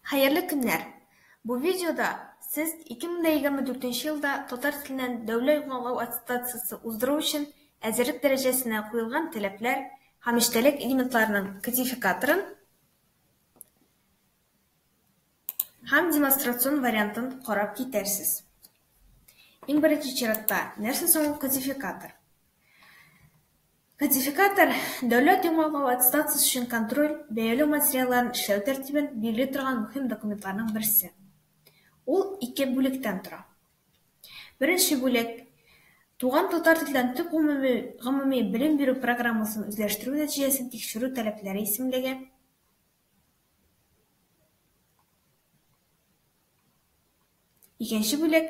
Хәерле көннәр! Бу видеода Сез 2024 нче елда татар теленнән дәүләт гуңалау аттестациясе уздыру өчен әзерлек дәрәҗәсенә куелган таләпләр һәм эчтәлек элементларының кодификаторын һәм демонстрацион вариантын карап китәрсез. Иң беренче чиратта, нәрсә соң ул кодификатор? Кодификатор, дәүләт яңалыгы аттестациясе өчен контроль, бәяләү материалларын эшләү тәртибен билгели торган мөһим документларның берсе. Ул ике бүлектән тора. Беренче бүлек, Туган татар телдән төп гомуми гомуми белем бирү программасын үзләштерү нәтиҗәсен тикшерү таләпләре исемлеге, Икенче бүлек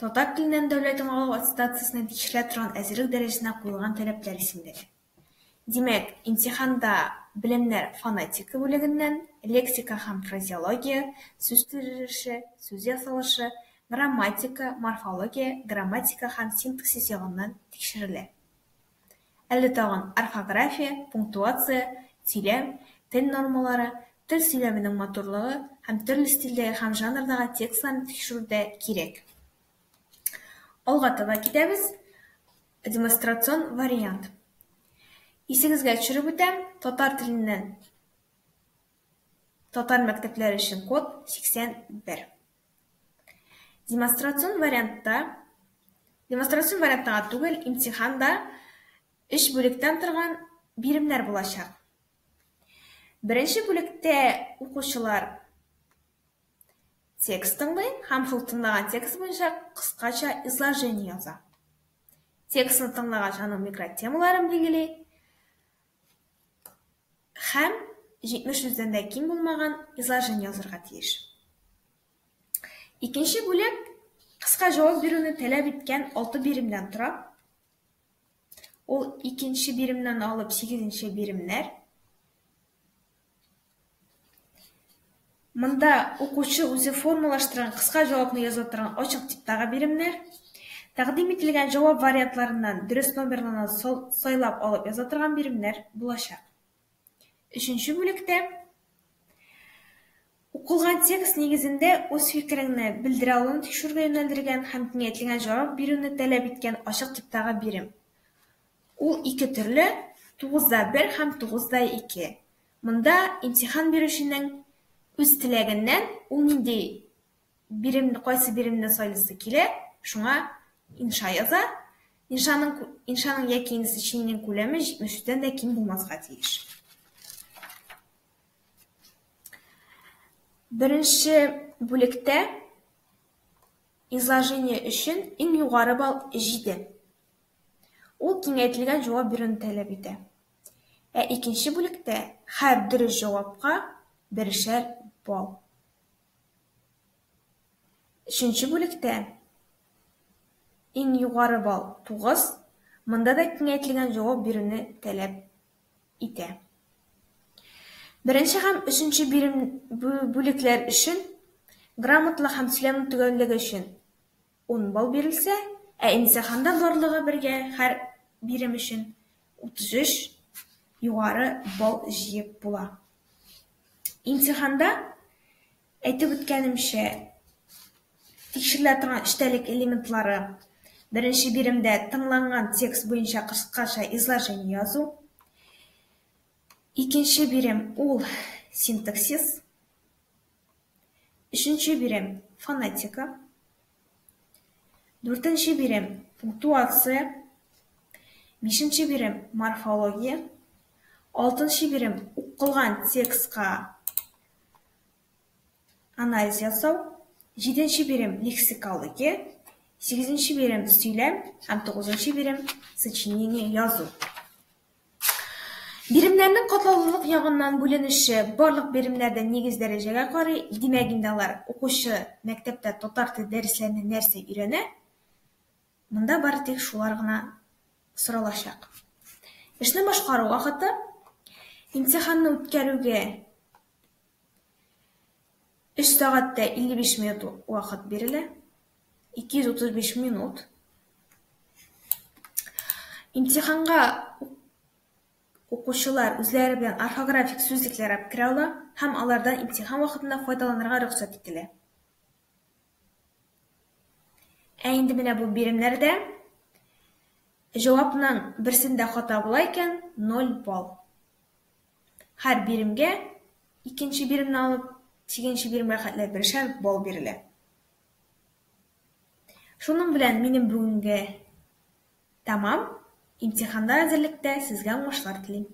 татар теленнән дәүләт аңлау аттестациясенә тиешелә торган әзерлек дәрәҗәсенә куелган таләпләр исемлеге. Димәк, имтиханда белемнәр фонетика бүлегеннән, лексика һәм фразеология, сүз төзелеше, сүз ясалышы, грамматика, морфология, грамматика һәм синтаксис ягыннан тикшерелә. Әле тагын орфография, пунктуация, сөйләм, тел нормалары, тел сөйләменең матурлыгы һәм төрле стильдәге һәм жанрдагы текстларны тикшерү дә кирәк. Алга таба китәбез. Демонстрацион вариант. Исегезгә төшереп үтәм, татар теленнән татар мәктәпләре өчен код 81. Демонстрацион вариантта, демонстрацион вариантта гына түгел, имтиханда өч бүлектән торган биремнәр булачак. Беренче бүлектә укучылар текст тыңлый һәм шул тыңлаган текст буенча кыскача изложение яза. Текстны тыңлагач, аның микротемаларын билгели, Һәм 70 сүздән дә ким булмаган изложение язырга тиеш. Икенче бүләк кыска җавап бирүне таләп иткән 6 биремдән тора. Ул икенче биремнән алып 8 нче биремнәр. Монда укучы үзе формалаштырган кыска җавапны яза торган ачык типтагы биремнәр. Тәкъдим ителгән җавап вариантларыннан дөрес номерларны сайлап алып яза торган биремнәр булачак. Өченче бүлектә укылган текст нигезендә үз фикереңне белдерә алуны тикшерүгә юнәлдергән һәм киңәйтелгән җавап бирүне таләп иткән ачык типтагы бирем. Ул ике төрле, тугызда бер һәм тугызда ике. Монда имтихан бирүченең үз теләгеннән ул нинди бирем, кайсы биремне сайлыйсы килә, шуңа инша яза. Иншаның, иншаның яки инсечениенең күләме 73-дән дә ким булмаска тиеш. Беренче бүлектә изложение өчен иң югары балл 7. Ул киңәйтелгән җавап бирүне таләп итә. Ә икенче бүлектә һәр дөрес җавапка берешәр балл. Өченче бүлектә иң югары балл, 9, монда да киңәйтелгән җавап бирүне таләп итә. Беренче һәм өченче бирем бүлекләр өчен грамотлык һәм сөйләм төгәллеге өчен Ун балл бирелсә, ә имтиханда барлыгы бергә һәр бирем өчен 33 югары балл җыеп була. Имтиханда, әйтеп үткәнемчә, тикшерелә торган эчтәлек элементлары, беренче биремдә тыңланган текст буенча кыскача изложение язу, икенче бирем, ул синтаксис, Өченче бирем, фонетика. Дүртенче бирем, пунктуация. Бишенче бирем, морфология. Алтынчы бирем, укылган текстка анализ ясау. Җиденче бирем, лексикология. Сигезенче бирем, сөйләм. Һәм тугызынчы бирем, сочинение язу. Биремнәрнең катлаулылык ягыннан бүленеше, барлык биремнәр дә нигез дәрәҗәгә карый, димәк инде алар, укучы мәктәптә татар теле дәресләренә нәрсә өйрәнә, монда бары тик шулар гына соралачак. Эшне башкару вакыты, имтиханны үткәрүгә Өч сәгать тә 55 минут вакыт бирелә. 235 минут. Имтиханга укучылар үзләре белән орфографик сүзлекләр алып керә ала һәм алардан имтихан вакытында файдаланырга рөхсәт ителә. Ә инде менә бу биремнәрдә җавапның берсендә хата була икән, 0 балл. Һәр биремгә, икенче биремне алып, сигенче биремгә хәтле бершәр балл бирелә. Шуның белән минем бүгенге тәмам. Имтиханда әзерлектә сезгә уңышлар телим.